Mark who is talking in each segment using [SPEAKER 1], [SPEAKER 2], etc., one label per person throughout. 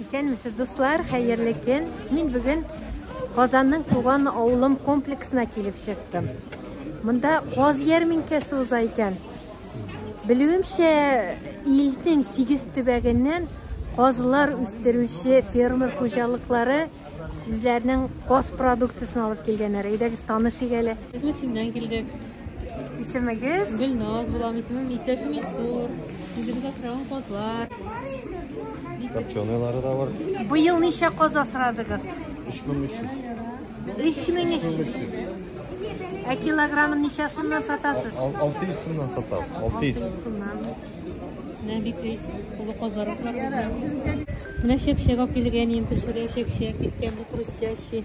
[SPEAKER 1] Исәнмесез, дуслар, хәерле көн. Мин бүген Казанның туган авылым комплексына килеп чыктым. Монда каз ярминкәсе уза икән. Белүемчә, илнең 8 төбәгеннән казлар үстерүче фермер хуҗалыклары үзләренең каз продукциясен алып килгәннәр. Әйдәгез танышыйк әле. Без Мөсиннән килдек.
[SPEAKER 2] Исемегез?
[SPEAKER 1] Гөлназ булам,
[SPEAKER 2] исемем Иптәшем Илсур. Үзебез асраган казлар. Копченыйлары
[SPEAKER 3] да бар. Быел ничә
[SPEAKER 1] каз асрадыгыз?
[SPEAKER 3] 3300. 3300.
[SPEAKER 1] Ә килограммын ничә сумнан сатасыз? 600 сумнан
[SPEAKER 3] сатабыз. 600. 600 сумнан.
[SPEAKER 1] Менә
[SPEAKER 2] бик олы казларыбыз бар. Менә чәк-чәк алып килгән, иң пешерә чәк-чәк, киткән хрустящий.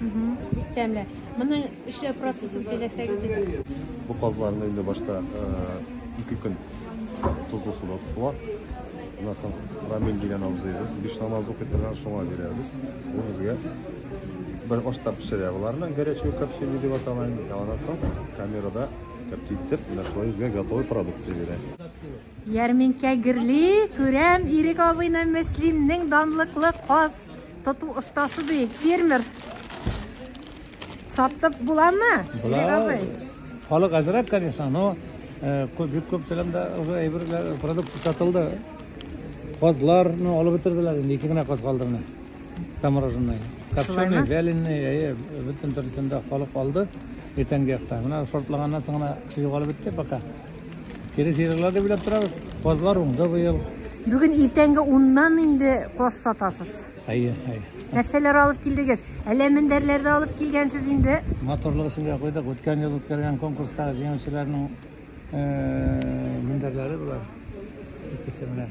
[SPEAKER 1] Бик тәмле. Моны эшләү процессын сөйләсәгез иде. Бу казларны
[SPEAKER 3] инде башта ике көн тозлы суда тотыла. Аннан соң рамин дигән абзыебыз биш намаз укый торган шуңа бирәбез. Ул безгә бер ашта пешерә боларны, горячий копчение дип атала инде. Аннан соң камерада каптитеп, нашлай безгә готовый продукция бирә. Ярминкә
[SPEAKER 1] гөрли, күрәм, Ирек абыйны Мөслимнең данлыклы каз тоту остасы ди, фермер. Сатып буламы, Ирек абый? Халык әзрәк,
[SPEAKER 4] конечно, но э, күп бик күп телемдә уже әйберләр, продукция сатылды. Казларны алып бетерделәр, инде ике генә каз калды менә. Замороженный. Копченый, вяленый, әйе, бөтен төркемдә халык алды. Иртәнге якта. Менә шортлаганнан соң гына югалып бетте пока. Перезералар да билеп торабыз. Казлар уңды быел. Бүген иртәнге
[SPEAKER 1] уннан инде каз сатасыз. Әйе, әйе.
[SPEAKER 4] Нәрсәләр
[SPEAKER 1] алып килдегез? Әллә мендәрләрдә алып килгәнсез инде? Моторлык өчен дә
[SPEAKER 4] куйдык. Үткән ел үткәргән конкурста җиңүчеләрнең мендәрләре булар. Икесе белән.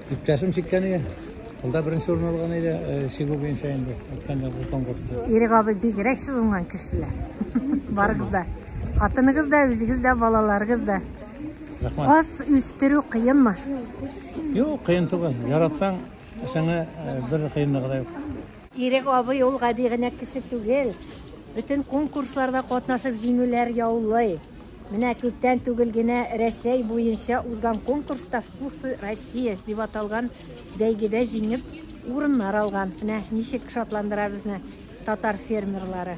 [SPEAKER 4] Иптәшем чиккән иде. Ул да беренче урын алган иде, чигү буенча инде. Әйткәндә бу конкурста. Ирек абый бигрәк
[SPEAKER 1] сез уңган кешеләр. Барыгыз да. Хатыныгыз да, үзегез дә, балаларыгыз да. Рәхмәт. Каз үстерү кыенмы? Юк,
[SPEAKER 4] кыен түгел. Яратсаң, эшеңә бер кыенлыгы да юк. Ирек абый
[SPEAKER 1] ул гади генә кеше түгел. Бөтен конкурсларда катнашып җиңүләр яулый. Менә күптән түгел генә Рәсәй буенча узган конкурста Вкусы Россия дип аталган бәйгедә җиңеп, урыннар алган. Менә ничек шатландыра безне татар фермерлары.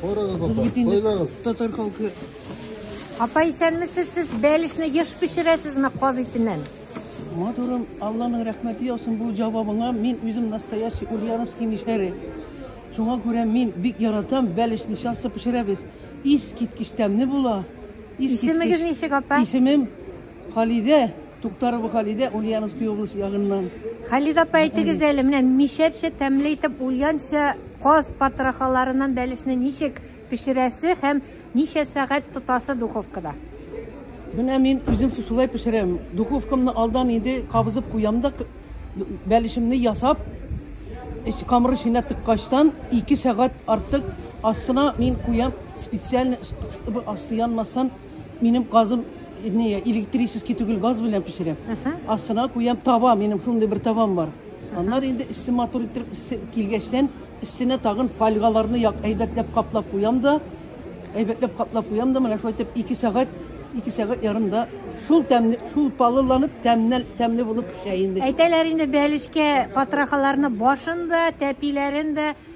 [SPEAKER 5] Карагыз, апа, сайлаңыз. Татар халкы. Апа,
[SPEAKER 1] исәнмесез сез бәлешне еш пешерәсезме каз итеннән? Матурым,
[SPEAKER 5] Алланың рәхмәте яусын бу җавабыңа. Мин үзем настоящий Ульяновский мишәре. Шуңа күрә мин бик яратам, бәлешне часто пешерәбез. Искиткеч тәмле була. Исемегез
[SPEAKER 1] ничек, апа? Исемем
[SPEAKER 5] Халидә, Туктарова Халидә, Ульяновский область ягыннан. Халидә апа,
[SPEAKER 1] әйтегез әле, менә мишәрчә тәмле итеп ульянча каз патрахаларыннан бәлешне ничек пешерәсе һәм ничә сәгать тотасы духовкада? Менә
[SPEAKER 5] мин үзем шулай пешерәм. Духовкамны алдан инде кабызып куям да бәлешемне ясап, камыр эченә тыккачтан 2 сәгать артык астына мин куям специально, чтобы асты янмасын. Минем газым не электрический түгел газ белән пешерәм. Астына куям таба, минем шундый бер табам бар. Аннар инде өсте матур итеп өсте килгәчтән өстенә тагын фольгаларны як әйбәтләп каплап куям да әйбәтләп каплап куям да менә шулай итеп 2 сәгать 2 сәгать ярымда шул тәмне шул палыланып тәмнәл тәмле булып пешә инде. Әйтәләр инде бәлешкә
[SPEAKER 1] патрахаларны башында, тәпиләрендә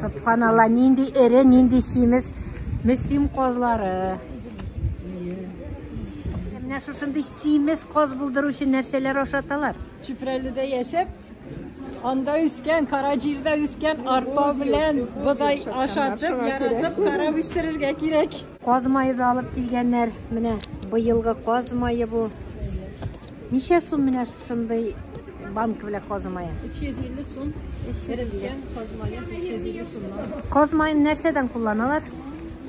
[SPEAKER 1] Субханалла, нинди эре, нинди симез. Месим козлары. Менә шушындый симез коз булдыру өчен нәрсәләр ашаталар? Чүпрәледә
[SPEAKER 6] яшәп, анда үскән, Караҗирдә үскән арпа белән бодай ашатып, яратып, карап үстерергә кирәк. Каз мае да алып
[SPEAKER 1] килгәннәр. Менә быелгы каз мае бу. Ничә сум менә шундый банка белән каз мае? 350 сум. Эреткән каз мае 350
[SPEAKER 6] сумнан. Каз маен нәрсәдән
[SPEAKER 1] кулланалар?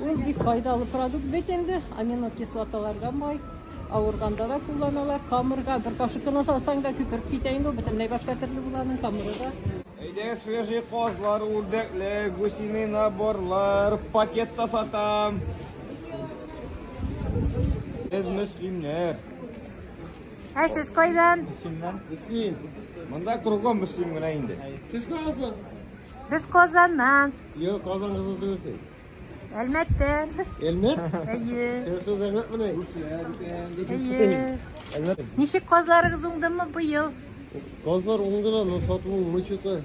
[SPEAKER 1] Ул бик
[SPEAKER 6] файдалы продукт бит инде. Аминокислоталарга бай. Авырганда да кулланалар. Камырга бер кашык кына салсаң да күпереп китә инде. Бөтенләй башка төрле буланың камыры да. Әйдә, свежий
[SPEAKER 7] козлар, үрдәкле, гусиный наборлар, пакетта сатам. Без мөслимнәр.
[SPEAKER 1] Ә сез кайдан? Мөслимнән. Мөслим.
[SPEAKER 7] Монда кругом мөслим генә инде. Сез кайдан? Без
[SPEAKER 1] Казаннан. Юк, Казан кызы
[SPEAKER 7] түгел. Әлмәттә.
[SPEAKER 1] Әлмәт?
[SPEAKER 7] Әйе.
[SPEAKER 1] Сез Әлмәт менә.
[SPEAKER 7] Әйе.
[SPEAKER 1] Әлмәт. Ничек казларыгыз уңдымы быел? Казлар
[SPEAKER 7] уңды да, но сату мычыты.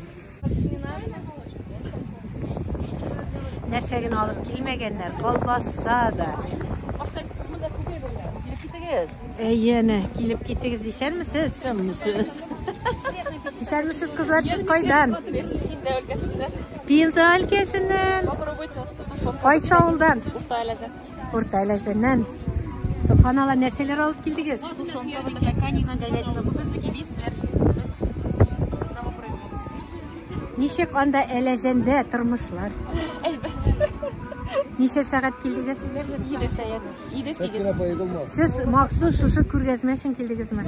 [SPEAKER 7] Нәрсә
[SPEAKER 1] генә алып килмәгәннәр, колбаса да. Әйе, әнә, килеп китегез дисәнме сез? Сез. Исәнмесез, кызлар, сез кайдан? Пенза өлкәсеннән. Пенза өлкәсеннән. Попробуйте вот эту фотку. Кайсы авылдан? Урта Әләзән. Урта Әләзәннән. Субханалла, нәрсәләр алып килдегез? Тушенка, вот такая канина, говядина. Бу безнеки бизләр. Без одного производства. Ничек анда Әләзәндә тормышлар? Ничә сәгать килдегез?
[SPEAKER 6] Иде сәгать. Иде сигез. Сез махсус
[SPEAKER 1] шушы күргәзмә өчен килдегезме?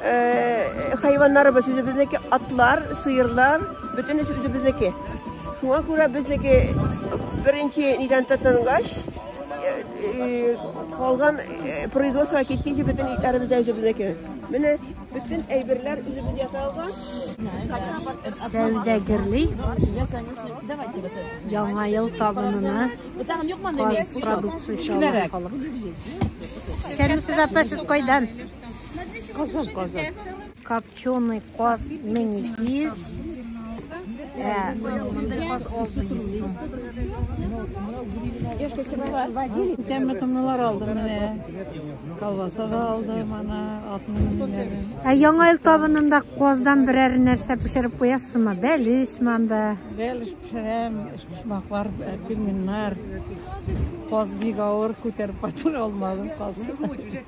[SPEAKER 8] Э, хайваннарыбыз үзебезнеке атлар, сыерлар, бөтенесе үзебезнеке. Шуңа күрә безнеке беренче нидән тотынгач, э, э, калган производство киткәнче бөтен итләребез дә үзебезнеке. Менә бөтен әйберләр үзебез ясалган. Сәүдәгерли
[SPEAKER 1] яңа ел табынына продукция чалган халык. Сәлимсез апа, сез кайдан? Казан, казан. Копченый каз миникиз. Э, каз алты сум.
[SPEAKER 9] Тәмле томнылар алдым менә. Колбаса да алдым ана Ә яңа ел
[SPEAKER 1] табынында каздан берәр нәрсә пешереп куясызмы? Бәлеш манда. Бәлеш пешерәм,
[SPEAKER 9] шмаклар, пельменнар. Каз бик авыр күтәреп кайтыр алмадым каз.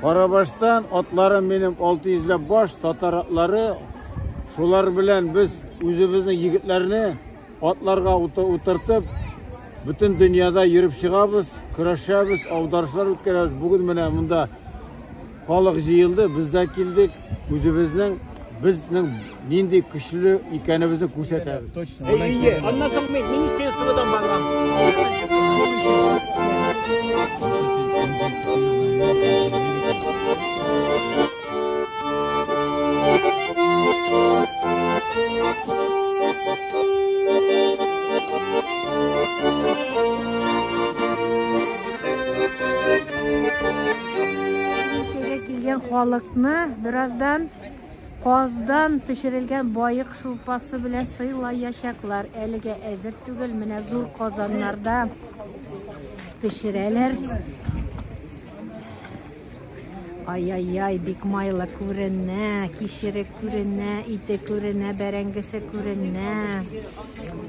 [SPEAKER 10] Карабаштан атларым минем 600 ләп баш татар атлары. Шулар белән без үзебезнең егетләрне атларга утыртып, бөтен дөньяда йөреп чыгабыз, көрәшәбез, аударышлар үткәрәбез. Бүген менә монда халык җыелды, без дә килдек. Үзебезнең безнең нинди көчле икәнебезне күрсәтәбез. Точно. Әйе, аннан
[SPEAKER 4] соң мин министерстводан барган.
[SPEAKER 1] Өлкәгә килгән халыкны бераздан каздан пешерелгән баек шулпасы белән сыйлаячаклар. Әлегә әзер түгел, менә зур казаннарда пешерәләр. Ай-яй-яй, бик майлы күренә, кишере күренә, ите күренә, бәрәңгесе күренә.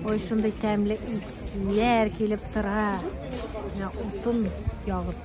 [SPEAKER 1] Ой, шундый тәмле исләр килеп тора. Менә утын ягып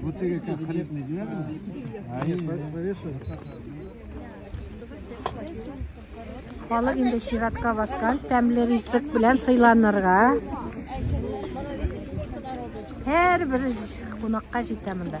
[SPEAKER 1] Вот ты как хлеб не делаешь? А нет, повешай. Халык инде чиратка баскан, тәмле ризык белән сыйланырга. Һәр бер кунакка җитә монда.